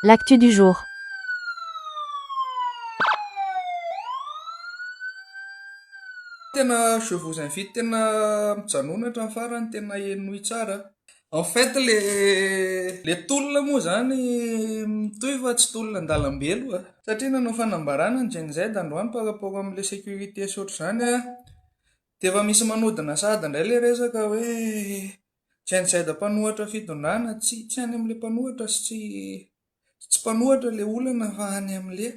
L'actu du jour. Tena je vous invite tena mijanona hatramin'ny farany tena henoy tsara. En fait le le tolona moa zany mitohy fa tsy tolona an-dalambe aloha satria nanao fanambarana ny Gen-Z androany par rapport amle sécurité sy ohatr'izany dia efa misy manodina sahady indray le resaka hoe Genocide mpanohatra fitondrana, tsy tsy any amin'ilay mpanohatra sy tsy tsy tsy mpanohatra ilay olana fa any amin'ilay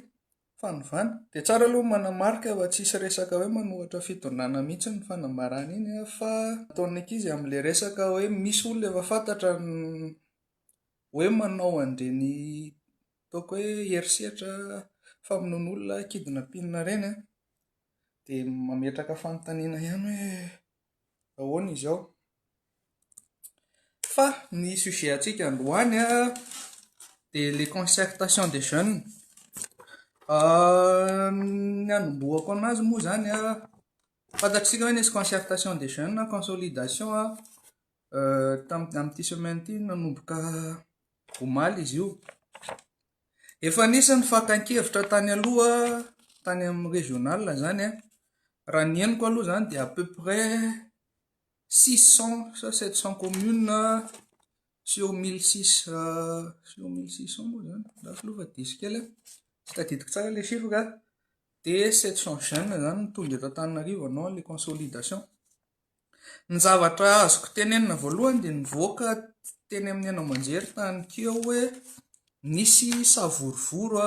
fanovana. Dia tsara aloha manamarika fa tsisy resaka hoe manohatra fitondrana mihitsy ny fanambarana iny a, fa ataon'ny ankizy amin'ilay resaka hoe misy olona efa fantatra hoe manao an'ireny ataoko hoe herisetra famonoana olona, kidnapping ireny a, dia mametraka fanontaniana ihany hoe. ahoana izao? Fa ny sujet antsika androany dia le concertation des jeunes, ny anombohako an'azy moa izany fantatsika ve nisy concertation des jeunes na consolidation tamin'ity semaine ity nanomboka omaly izy io? Efa anisan'ny fakan-kevitra tany aloha tany amin'ny régional izany an, raha ny henoko aloha izany dia à peu près six cent sa sept cent communes sur mille six sur mille six cent moa izany lafo aloha fa diso kely an, tsy tadidiko tsara ilay chiffre an, dia sept cent jeunes izany no tonga eto Antananarivo anao ilay consolidation. Ny zavatra azoko tenenina voalohany dia nivoaka teny amin'ny haino aman-jery tany keo hoe nisy savorovoro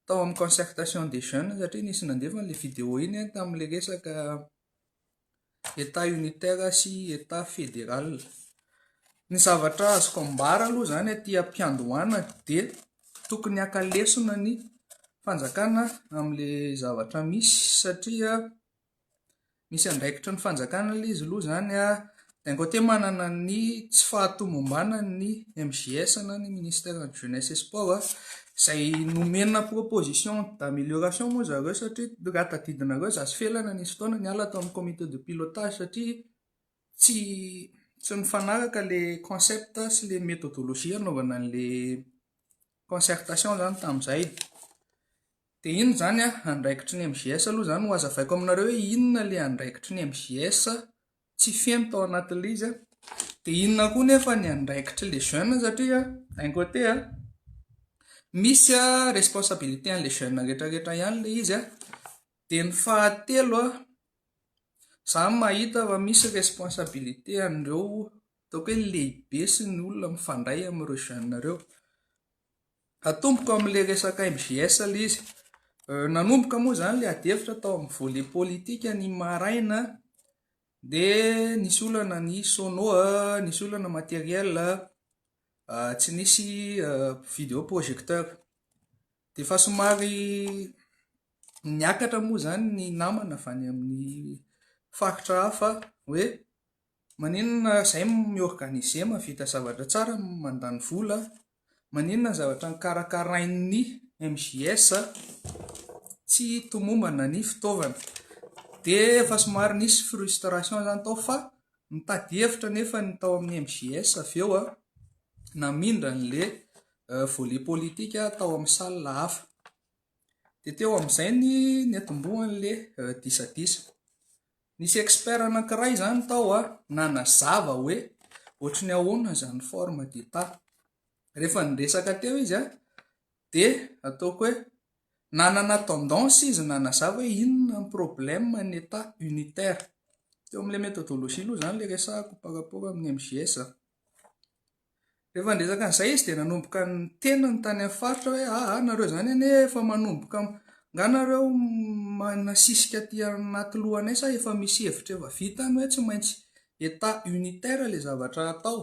tao amin'ny concertation des jeunes satria nisy nandefa an'ilay video iny tamin'ilay resaka état unitaire sy état fédéral. Ny zavatra azoko ambara aloha izany aty am-piandohana dia tokony haka lesona ny fanjakana amin'ilay zavatra misy satria Misy andraikitry ny fanjakana aloha izy aloha izany an, d'un côté manana ny tsy fahatomombanan'ny MJS na ny ministère de jeunesse et sport izay nomena proposition d'amélioration moa zareo satria raha tadidinareo za sy Felana nisy fotoana niala tao amin'ny comité de pilotage satria tsy tsy nifanaraka ilay concept sy ilay méthodologie hanaovana an'ilay concertation izany tamin'izay dia inona izany andraikitry ny MJS aloha izany no hazavaiko aminareo hoe inona ilay andraikitry ny MJS tsy feno tao anatin'ilay izy dia inona koa nefa ny andraikitry les jeunes satria d'un côté misy responsabilité an'ilay jeunes rehetra rehetra ihany ilay izy dia ny fahatelo a, izaho mahita fa misy responsabilité an'ireo Ataoko hoe lehibe sy ny olona mifandray amin'ireo jeunes ireo. Atomboko amin'ilay resaka MJS ilay izy. Nanomboka moa izany ilay adihevitra tao amin'ny volet politika ny maraina dia nisy olana ny sono, nisy olana matériel, tsy nisy video projecteur. Dia efa somary niakatra moa izany ny namana avy any amin'ny faritra hafa hoe. Maninona ary zay mi organiser mavita zavatra tsara mandany vola maninona ny zavatra nikarakarain'ny MJS tsy tomombana ny fitaovana de efa somary nisy frustration zany tao fa nitady hevitra nefa ny tao amin'ny MJS avy eo a namindra an'le volet politika tao amin'ny salle hafa de teo amin'izay ny niatombohan'le disadisa Nisy expert anankiray izany tao a, nanazava hoe ohatry ny ahoana izany forme d'état. Rehefa niresaka teo izy a, dia ataoko hoe nanana tendance izy nanazava hoe inona ny problème ny état unitaire. Teo amin'ilay méthodologie aloha izany ilay resahako par rapport amin'ny MJS. Rehefa niresaka an'izay izy dia nanomboka niteny ny tany amin'ny faritra hoe, Aa, nareo izany anie efa manomboka, angaha nareo manasisika aty anaty lohanay sa efa misy hevitra efa vita any hoe tsy maintsy Etat unitaire ilay zavatra hatao?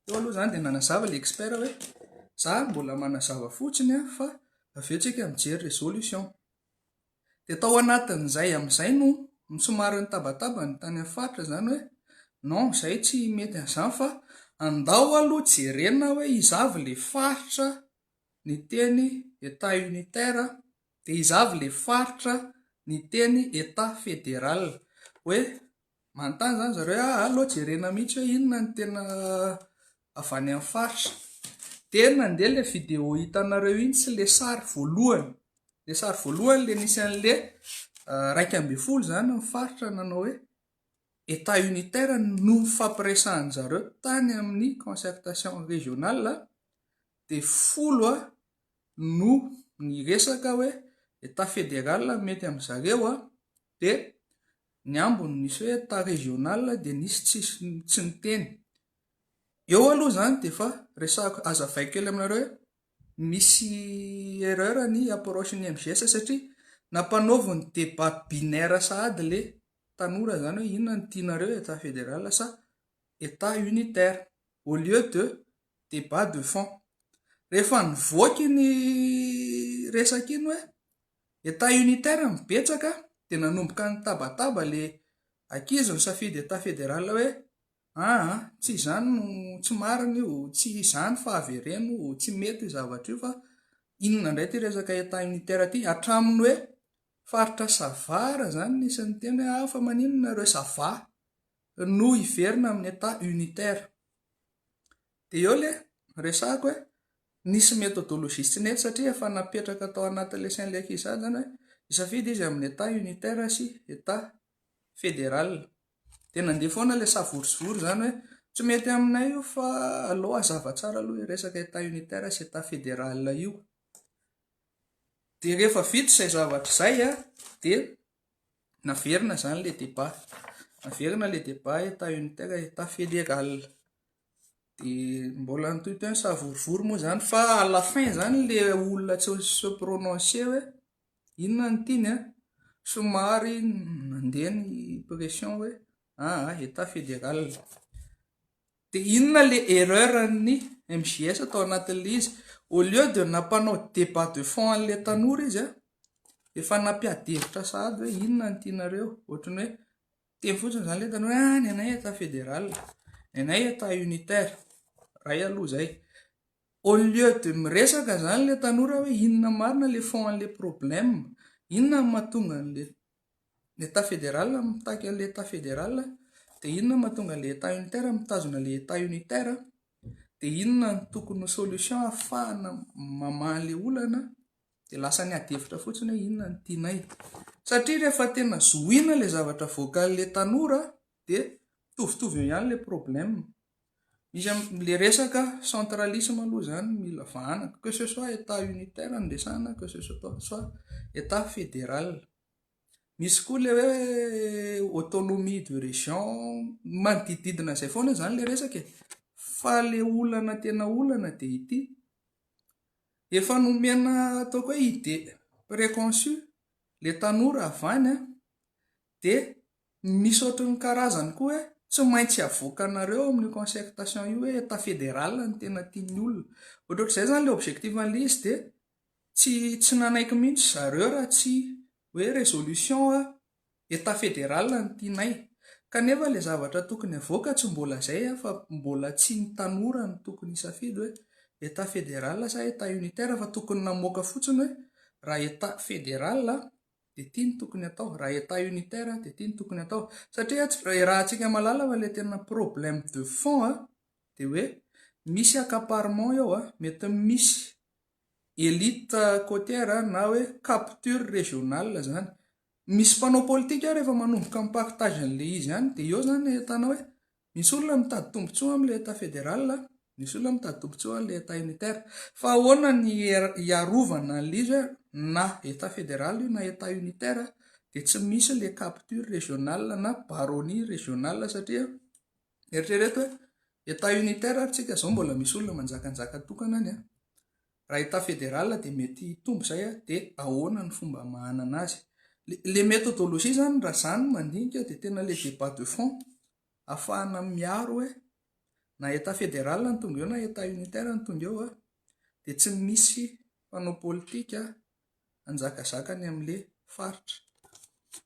Teo aloha izany dia nanazava ilay expert hoe, izaho mbola manazava fotsiny fa avy eo isika mijery resolution. Dia tao anatin'izay amin'izay no somary nitabataba ny tany amin'ny faritra izany hoe non izay tsy mety an'izany fa andao aloha jerena hoe iza avy ilay faritra niteny Etat unitaire dia iza avy ilay faritra niteny Etat fédéral hoe Manontany izany zareo hoe ah, aleo jerena mihitsy hoe inona ny tena avy any amin'ny faritra. Dia nandeha ilay vidéo hitanareo iny sy ilay sary voalohany. Ilay sary voalohany ilay nisy an'ilay ah, iraika ambin'ny folo izany ny faritra nanao hoe état unitaire no nifampiresahan'ny zareo tany amin'ny concertation régionale dia folo ah, no niresaka hoe état fédéral mety amin'ny zareo ah, Dia ny ambiny nisy hoe état régional dia nisy tsisy tsy niteny. Eo aloha izany dia efa resahako hazavaiko kely aminareo hoe misy erreur ny approche ny MGS satria nampanaovy ny débat binaire sahady le tanora izany hoe inona no tianareo état fédéral sa état unitaire au lieu de débat de fond. Rehefa nivoaka iny resaka iny hoe Etat unitaire ny betsaka dia nanomboka nitabataba le ankizy nisafidy etat fédéral hoe aa tsy izany no tsy marina io tsy izany fa avereno tsy mety io zavatra io fa inona indray ity resaka etat unitaire ity hatramin'ny hoe faritra sava raha izany nisy niteny hoe ah fa maninona ireo sava no hiverina amin'ny etat unitaire Dia eo ilay resahako hoe nisy methodologie tsy nety satria efa napetraka tao anatin'ilay sain'ilay ankizy sahady izany hoe hisafidy izy amin'ny Etat unitaire sy Etat fédéral. Dia nandeha foana ilay savory sy vory izany hoe tsy mety aminay io fa aleo hazava tsara aloha io resaka Etat unitaire sy Etat fédéral io. Dia rehefa vita izay zavatra izay dia naverina izany ilay débat. Naverina ilay débat Etat unitaire, Etat fédéral. Dia mbola nitohy teo ny savorovoro moa izany fa à la fin izany ilay olona tsy se prononcer hoe inona no tiany an, somary nandeha ny pression hoe aa état fédéral. Dia inona ilay erreur an'ny MJS tao anatin'ilay izy, au lieu dia nampanao débat de fond an'ilay tanora izy an, efa nampiady hevitra sahady hoe inona no tianareo, ohatran'ny hoe. Teo fotsiny izany ilay tany hoe ah, ny anay Etat fédéral, ny anay Etat unitaire. Ray aloha izay. Au lieu de miresaka izany ilay tanora hoe inona marina ilay fond an'ilay problème, inona no mahatonga an'ilay ny Etat fédéral mitaky an'ilay Etat fédéral, dia inona no mahatonga an'ilay Etat unitaire mitazona ilay Etat unitaire, dia inona no tokony ho solution ahafahana mamaha ilay olana. dia lasa ny adihevitra fotsiny hoe inona no tianay. Satria rehefa tena zohiana ilay zavatra voakalin'ilay tanora dia mitovitovy eo ihany ilay problème. Misy amin'ilay resaka centralisme aloha izany mila vahana, que ce soit état unitaire no resahana, que ce soit état fédéral. Misy koa ilay hoe autonomie de région, manodidididina izay foana izany ilay resaka e. Fa ilay olana tena olana dia ity. Efa nomena ataoko hoe idée préconçue le tanora avy any an, dia misy ohatran'ny karazany koa hoe tsy maintsy avoakanareo amin'io concertation io hoe etat fédéral no tena tian'ny olona, ohatrohatr'izay izany ilay objectif an'ilay izy dia tsy tsy nanaiky mihitsy zareo raha tsy hoe résolution an. Etat fédéral no tianay. Kanefa ilay zavatra tokony havoaka tsy mbola izay an, fa mbola tsy ny tanora no tokony hisafidy hoe Etat fédéral sa Etat unitaire fa tokony namoaka fotsiny hoe raha Etat fédéral dia ity no tokony hatao, raha Etat unitaire dia ity no tokony hatao. Satria iarahantsika mahalala fa ilay tena problème de fond an, dia hoe misy accaparement eo an, mety misy élite côtière na hoe capture régionale izany. Misy mpanao politika rehefa manomboka mi-pack tage an'ilay izy ihany dia eo izany ahitana hoe misy olona mitady tombontsoa amin'ilay Etat fédéral, misy olona mitady tombontsoa an'ilay Etat unitaire. Fa ahoana ny hiarovana an'ilay izy hoe na Etat fédéral io na Etat unitaire dia tsy misy ilay capture régionale na baronnie régionale satria eritrereto hoe Etat unitaire ary tsika izao mbola misy olona manjakanjaka tokana any an! Raha état fédéral dia mety hitombo izay dia ahoana ny fomba hamahanana azy. Ilay méthodologie izany raha izaho no mandinika dia tena ilay débat de fond hahafahana miaro hoe na état fédéral no tonga eo na état unitaire no tonga eo dia tsy misy mpanao politika hanjakazaka ny amin'ilay faritra.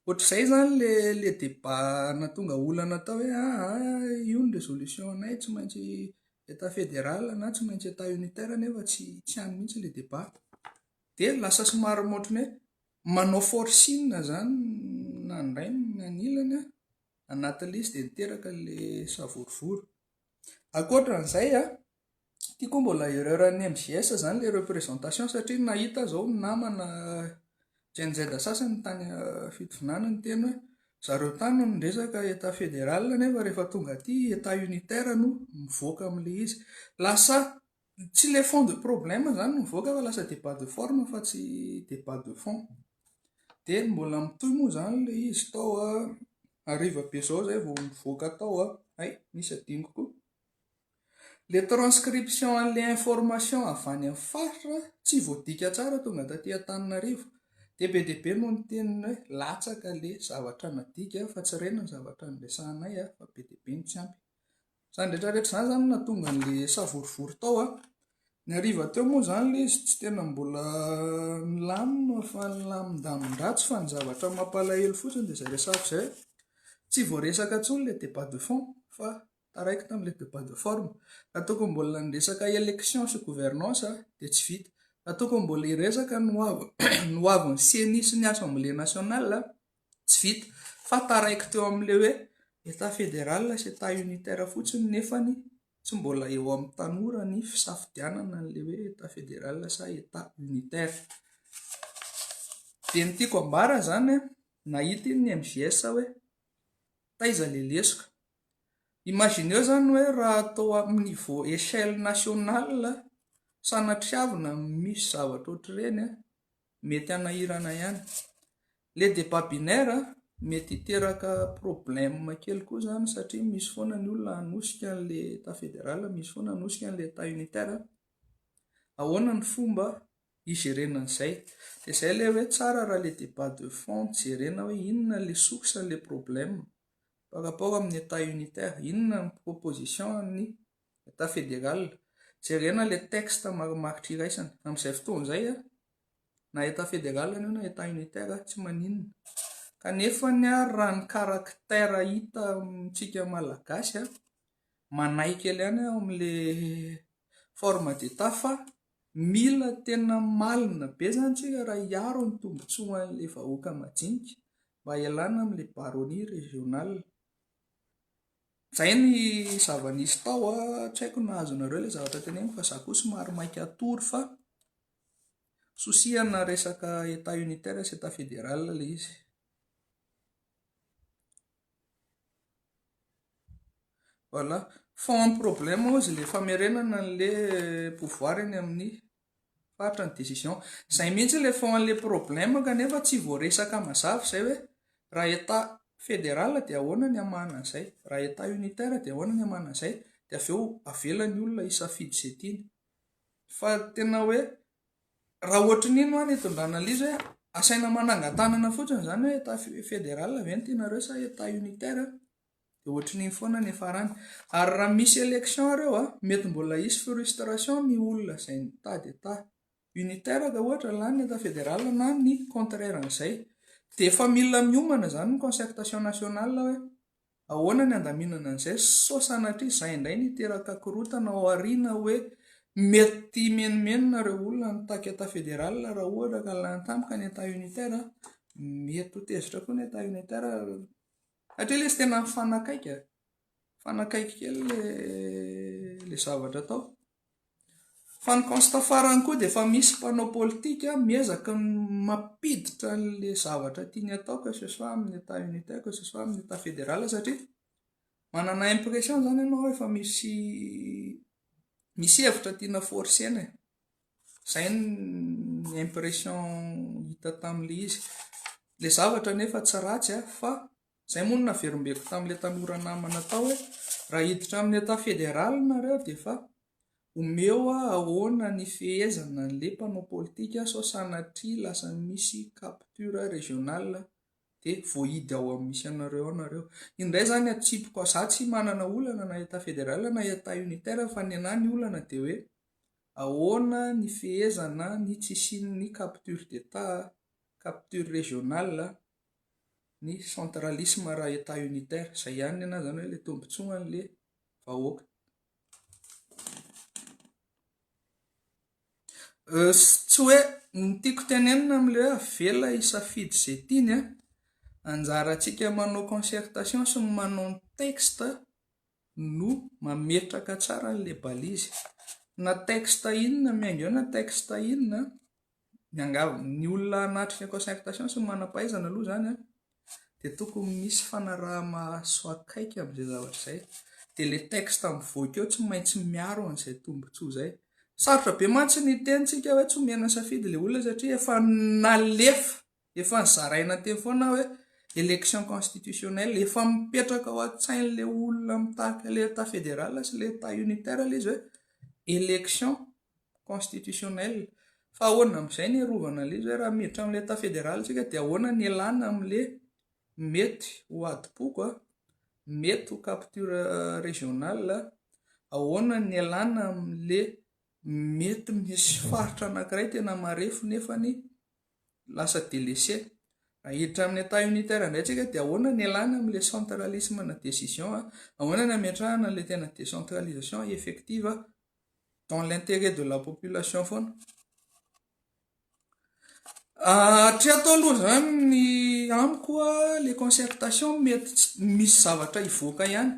Ohatr'izay izany ilay débat nahatonga olana tao hoe aa io ny résolution-nay tsy maintsy état fédéral na tsy maintsy état unitaire nefa tsy hany mihitsy ilay débat. Dia lasa somary ohatrany hoe manao forcing izany na ny ray na ny ilany anatin'ilay izy dia niteraka ilay savorovoro. Ankoatra an'izay an, Ity koa mbola erreur an'ny MJS zany le représentation satria nahita zao ny namana Gen Z sasany tany fitovinany niteny hoe zareo tany no niresaka état fédéral nefa rehefa tonga aty état unitaire no mivoaka amin'le izy. Lasa tsy le fond de problème zany no mivoaka fa lasa débat de forme fa tsy débat de fond. Dia mbola mitohy moa zany le izy tao hariva be zao zay vao mivoaka tao hay misy adinoko koa. Le transcription anle information avy any am faritra tsy voadika tsara tonga taty Antananarivo de be de be no niteny hoe latsaka le zavatra nadika fa tsy reny ny zavatra niresahanay a fa be de be no tsy ampy zany retra retra zany zany na tonga anle savorovoro tao a ny hariva teo moa zany le izy tsy tena mbola nilamina fa nilamindamindratsy fa ny zavatra mampalahelo fotsiny de zay resako zay tsy voaresaka tsony le debat de fond fa Taraiky tamin'ilay debat de forme. Raha toa ka mbola ny resaka élection sy gouvernance dia tsy vita. Raha toa ka mbola hiresaka ny hoavin'ny ceni sy ny assemblée nationale, tsy vita. Fa taraiky teo amin'ilay hoe Etat fédéral sy Etat unitaire fotsiny nefany tsy mbola eo amin'ny tanora ny fisafidianana an'ilay hoe Etat fédéral sa Etat unitaire. Dia ny tiako ambara izany, nahita iny ny MJS hoe taiza ilay lesoka. Imagineo zany hoe raha atao amin'ny niveau echelle nationale sanatriavina misy zavatra ohatr'ireny mety hanahirana ihany. Le debat binaire mety hiteraka problème kely koa zany satria misy foana ny olona hanosika an'le etat federal, misy foana hanosika an'le etat unitaire. Ahoana ny fomba higerena an'izay? De zay le hoe tsara raha le debat de fond jerena hoe inona le source an'le problème. par rapport amin'ny Etat unitaire, inona ny proposition an'ny Etat fédéral? Jerena ilay texte marimaritra iraisana. Amin'izay fotoana izay, na Etat fédéral io na Etat unitaire, tsy maninona. Kanefa ny ahy, raha ny caractère hita amintsika Malagasy, manahy kely ihany aho amin'ilay forme d'Etat fa mila tena malina be izany isika raha hiaro ny tombontsoan'ilay vahoaka majinika, mba hialana amin'ilay baronnie régionale. Izay ny zava-nisy tao a, tsy haiko na azonareo ilay zavatra teneniko fa za koa somary maika hatory fa souci ana resaka état unitaire sy état fédéral ilay izy. Voilà, fond problème hozy ilay famerenana an'ilay pouvoir eny amin'ny Fatra ny décision. Zay mihitsy le fond anle problème kanefa tsy voaresaka mazava zay hoe raha état fédéral dia ahoana ny hamahana an'izay, raha état unitaire dia ahoana ny hamahana an'izay dia avy eo avela ny olona hisafidy izay tiany. Fa tena hoe raha ohatry ny iny hoa ny hitondrana an'le izy hoe asaina manangan-tanana fotsiny izany hoe état fédéral ve no tianareo sa état unitaire. Dia ohatrin'iny foana ny farany. Ary raha misy élection reo a, mety mbola hisy frustration ny olona izay nitady état unitaire ka ohatra lany ny état fédéral na ny contraire an'izay. Dia efa mila miomana izany ny concertation nationale hoe ahoana ny handaminana an'izay sao sanatria izay indray no hiteraka korontana ao aoriana hoe mety himenomenona ireo olona nitaky état fédéral raha ohatra ka lany tampoka ny état unitaire. Mety ho tezitra koa ny état unitaire. Hatreto izy tena nifanakaiky e. Nifanakaiky kely ilay zavatra atao. Fa ny constat farany koa dia efa misy mpanao politika miezaka mampiditra an'ilay zavatra tiany atao que ce soit amin'ny Etat unitaire, que ce soit amin'ny Etat fédéral satria manana impression izany ianao efa misy misy hevitra tiana forcer-na e. Izay ny impression hita tamin'ilay izy. Ilay zavatra anefa tsy ratsy fa izay moa no naverimberiko tamin'ilay tanora namana tao hoe raha hiditra amin'ny Etat Fédéral nareo dia efa omeo aho ahoana ny fehezana an'ilay mpanao politika sao sanatria lasa misy capture régional dia voahidy ao amin'ny misy anareo ao nareo. Indray izany atsipiko, izaho tsy manana olana na Etat Fédéral na Etat Unitaire fa ny anah ny olana dia hoe Ahoana ny fehezana ny tsy hisian'ny capture d'Etat, capture régionale, ny centralisme raha Etat unitaire? Izay ihany ny anahy izany hoe ilay tombontsoa an'ilay vahoaka. Tsy hoe ny tiako tenenina amin'ilay hoe avela hisafidy izay tiany an, anjarantsika manao concertation sy manao ny texte no mametraka tsara an'ilay balise na texte inona miainga eo na texte inona miangavy ny olona hanatrika concertation sy ny manam-pahaizana aloha izany an dia tokony misy fanaraha-maso akaiky amin'izay zavatra izay dia ilay texte mivoaka eo tsy maintsy miaro an'izay tombontsoa izay sarotra be mantsy ny tenintsika hoe tsy omena safidy ilay olona satria efa nalefa Efa nozaraina teo foana hoe élection constitutionnelle, efa mipetraka ao an-tsain'ilay olona mitarika ilay Etat fédéral sy ilay Etat unitaire ilay izy hoe élection constitutionnelle. Fa ahoana amin'izay ny hiarovana an'ilay izy hoe raha miditra amin'ilay Etat fédéral isika dia ahoana ny hialana amin'ilay mety ho adim-poko, mety ho capture régionale, ahoana ny hialana amin'ilay mety misy faritra anankiray tena marefo nefany lasa delese. Raha hiditra amin'ny état unitaire indray tsika dia ahoana ny alana amin'ilay centralisme ana décision, ahoana ny ametrahana an'ilay tena décentralisation effective dans l'intérêt de la population foana. Hatreto aloha izany ny amiko ilay concertation mety misy zavatra hivoaka ihany.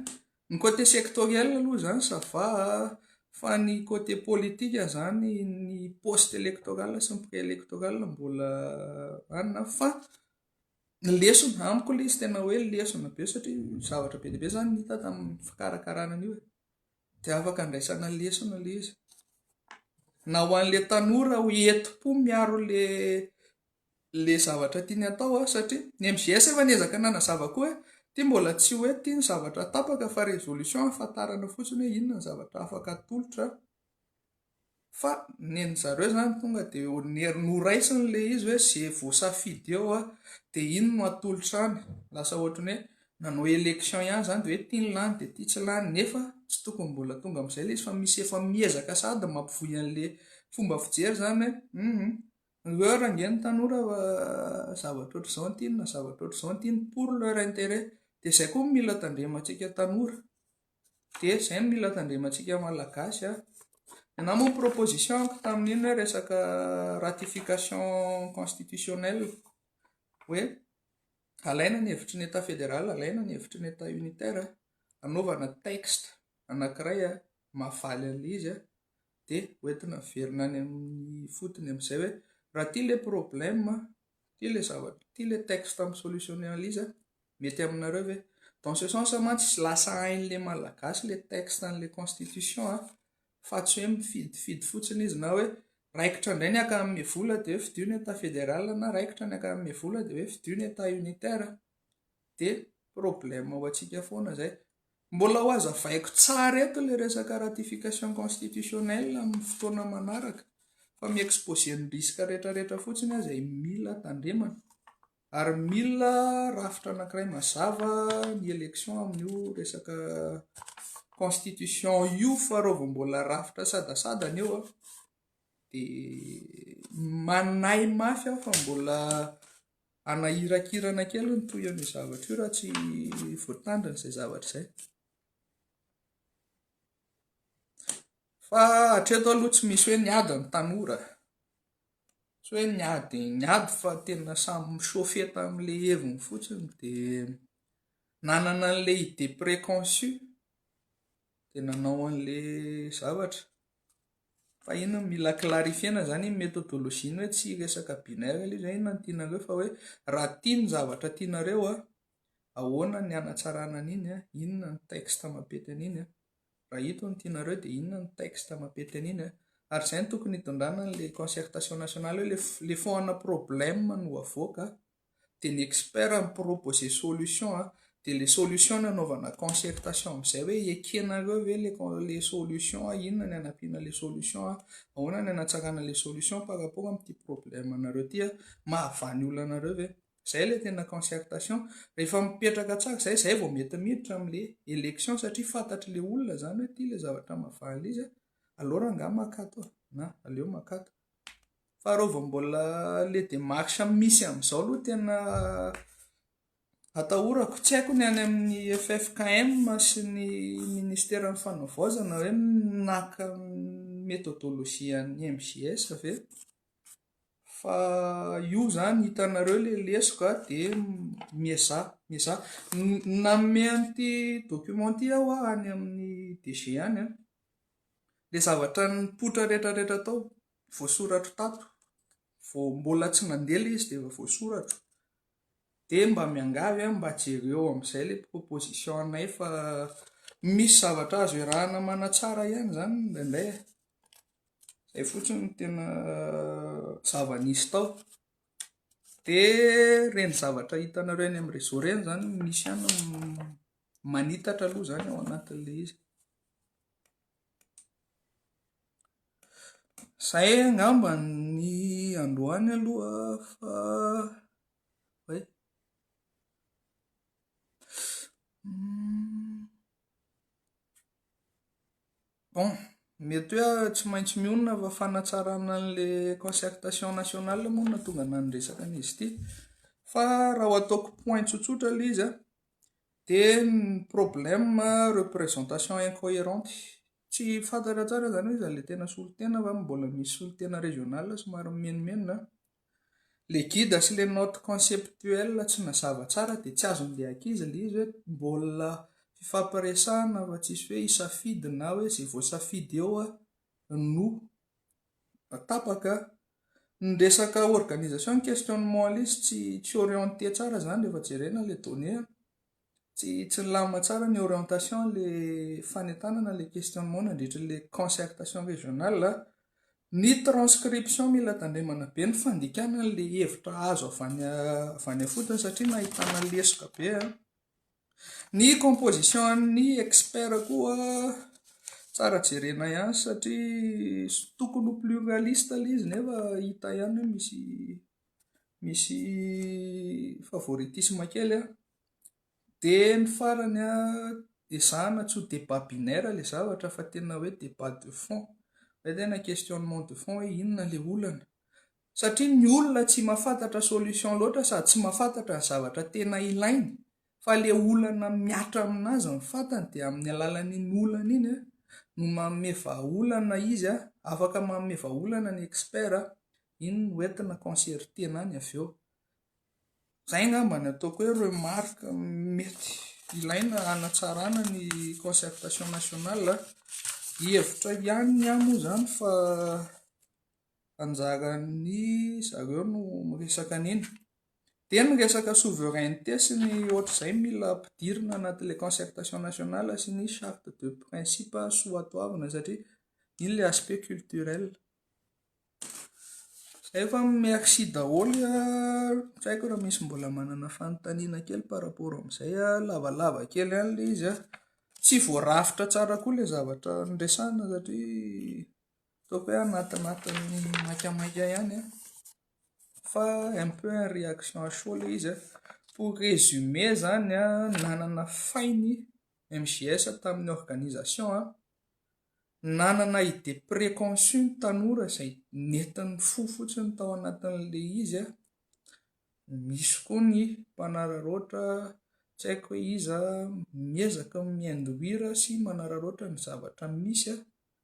Ny côté sectoriel aloha izany ça va a! fa ny côté politique izany ny poste électoral sy ny pré électoral mbola any na fa ny lesona amiko ilay izy tena hoe lesona be satria zavatra be dia be izany no hita tamin'ny fikarakarana an'io e! dia afaka andraisana lesona ilay izy na ho an'ilay tanora ho entim-po miaro ilay le zavatra tiany hatao a, satria ny MJS efa niezaka nanazava koa hoe ity mbola tsy hoe ity ny zavatra tapaka fa résolution hahafantarana fotsiny hoe inona ny zavatra afaka atolotra fa nen'ny zareo zany tonga de noraisiny le izy hoe ze voasafidy eo a de iny no atolotra any lasa ohatriny hoe nanao élection ihany zany de hoe ity ny lany de ity tsy lany nefa tsy tokony mbola tonga am'izay le izy fa misy efa miezaka sady mampivoy an'le fomba fijery zany hoe Heure ange ny tanora zavatra ohatr'izao no tiany na zavatra ohatr'izao no tiany pour leur intérêt. Dia izay koa no mila tandremantsika tanora. Dia izay no mila tandremantsika malagasy. Ianao moa proposition ko tamin'iny hoe resaka ratification constitutionnelle. Hoe alaina ny hevitry ny état fédéral, alaina ny hevitry ny état unitaire, anaovana texte anankiray mahavaly an'ilay izy. dia hoentina miverina any amin'ny fotony amin'izay hoe raha ity ilay problème an, ity ilay zavatra, ity ilay texte amin'ny solution analyse an, mety aminareo ve? Dans ce sens mantsy tsy lasa hain'ilay Malagasy ilay texte an'ilay constitution an, fa tsy hoe mifidifidy fotsiny izy na hoe raikitra indray ny ankamabe vola dia hoe fidio ny état fédéral na raikitra ny ankamabe vola dia hoe fidio ny état unitaire dia problème ho antsika foana izay. Mbola ho hazavaiko tsara eto ilay resaka ratification constitutionnelle amin'ny fotoana manaraka fa mi-exposer ny risque rehetrarehetra fotsiny aho izay mila tandremana ary mila rafitra anankiray mazava ny élection amin'io resaka constitution io fa raha vao mbola rafitra sadasadana eo dia manahy mafy aho fa mbola Hanahirakirana kely ny tohiny io zavatra io raha tsy voatandrina izay zavatra izay. Fa hatreto aloha tsy misy hoe niady ny tanora. Tsy hoe niady niady fa tena samy mi-chauffer tamin'ilay heviny fotsiny dia nanana an'ilay idée préconçue dia nanao an'ilay zavatra. Fa ino mila clarifier-na zany iny methodologie-ny hoe tsy hiresaka binaire ilay izy hoe inona no tianareo fa hoe raha tia ny zavatra tianareo a ahoana ny hanatsarana an'iny a inona ny texte mampety an'iny a raha ito no tianareo dia inona ny texte mampety an'iny a ary izay no tokony hitondrana an'ilay concertation nationale hoe le fond ana problème no avoaka dia ny expert mi-proposer solution an, dia ilay solution no anaovana concertation amin'izay hoe ekenareo ve ilay solution, inona no hanampiana ilay solution, ahoana no hanatsarana ilay solution par rapport amin'ity problème anareo ity, mahavaha ny olona anareo ve, izay ilay tena concertation, rehefa mipetraka tsara izay, izay vao mety miditra amin'ilay élection satria fantatr'ilay olona izany hoe ity ilay zavatra mahavaha an'ilay izy, alors angaha maka ato e, na aleo maka ato. Faharoa vao mbola le démarche misy amin'izao aloha tena atahorako. Tsy haiko ny any amin'ny ffkm sy ny ministeran'ny fanavaozana hoe naka ny méthodologie an'ny MJS ve? Fa io izany hitanareo ilay lesoka an, dia miezaha, miezaha. Nanome an'ity document ity aho any amin'ny DG any an. Ilay zavatra nipoitra rehetra rehetra tao, voasoratro tato, vao mbola tsy nandeha ilay izy dia efa voasoratro. Dia mba miangavy aho mba jereo amin'izay ilay proposition-nay fa misy zavatra azo iarahana manatsara ihany izany indraindray e. Izay fotsiny no tena zava-nisy tao. Dia ireny zavatra hitanareo eny amin'ny réseau ireny izany no misy ihany manitatra aloha izany ao anatin'ilay izy. Izay angamba ny androany aloha fa hay. Bon, mety hoe aho tsy maintsy mionona fa fanatsarana an'ilay concertation nationale moa no nahatonga anà niresaka an'izy ity fa raha ho ataoko point tsotsotra ilay izy an. Dia ny problème représentation incohérente. Tsy fantatra tsara izany hoe iza ilay tena solontena va mbola misy solontena régional somary mimenomenona an. Ilay guide sy ilay note conceptuelle tsy nazava tsara dia tsy azon'ilay ankizy ilay izy hoe mbola fifampiresahana fa tsisy hoe hisafidy na hoe izay voasafidy eo no tapaka. Ny resaka organisation questionnement lesy tsy tsy orienté tsara zany rehefa jerena ilay donnée an! tsy tsy nilamina tsara ny orientation an'ilay fanentanana ilay questionnement nandritra ilay concertation régionale an! ny transcription mila tandremana be ny fandikana an'ilay hevitra azo avy any avy any ifotony satria nahitana lesoka be an! Ny composition an'ny expert koa tsara jerena ihany satria tokony ho pluraliste ilay izy nefa hita ihany hoe misy misy favoritisme kely an. Dia ny farany an, ezahana tsy ho débat binaire ilay zavatra fa tena hoe débat de fond, izay tena questionnement de fond hoe inona ilay olana. Satria ny olona tsy mafantatra solution loatra sady tsy mafantatra ny zavatra tena ilainy fa le olana miatra aminazy ny fantany dia amin'ny alalan'iny olana iny no manome vahaolana izy a, afaka manome vahaolana ny expert a, iny no entina concerter-na any avy eo. Zay ngamba ny ataoko hoe remarque mety ilaina hanatsarana ny concertation nationale a, hevitra ihany ny ahy moa zany fa. anjaran'ny zareo no miresaka an'iny. Dia ny resaka souveraineté sy ny ohatr'izay mila ampidirina anaty ilay concertation nationale sy ny charte de principe soatoavina satria iny ilay aspect culturel. Izay fa merci daholo an, tsy haiko raha misy mbola manana fanontaniana kely par rapport amin'izay an, lavalava kely ihany ilay izy an, tsy voarafitra tsara koa ilay zavatra niresahana satria. Ataoko hoe anatinatin'ny maikamaika ihany fa un peu en réaction à chaud ilay izy. Pour résumer izany, nanana fainy MJS tamin'ny organisation, nanana idée préconçue ny tanora izay nentin'ny fo fotsiny tao anatin'ilay izy, misy koa ny mpanararaotra tsy haiko hoe iza miezaka mi-induire sy manararaotra ny zavatra misy.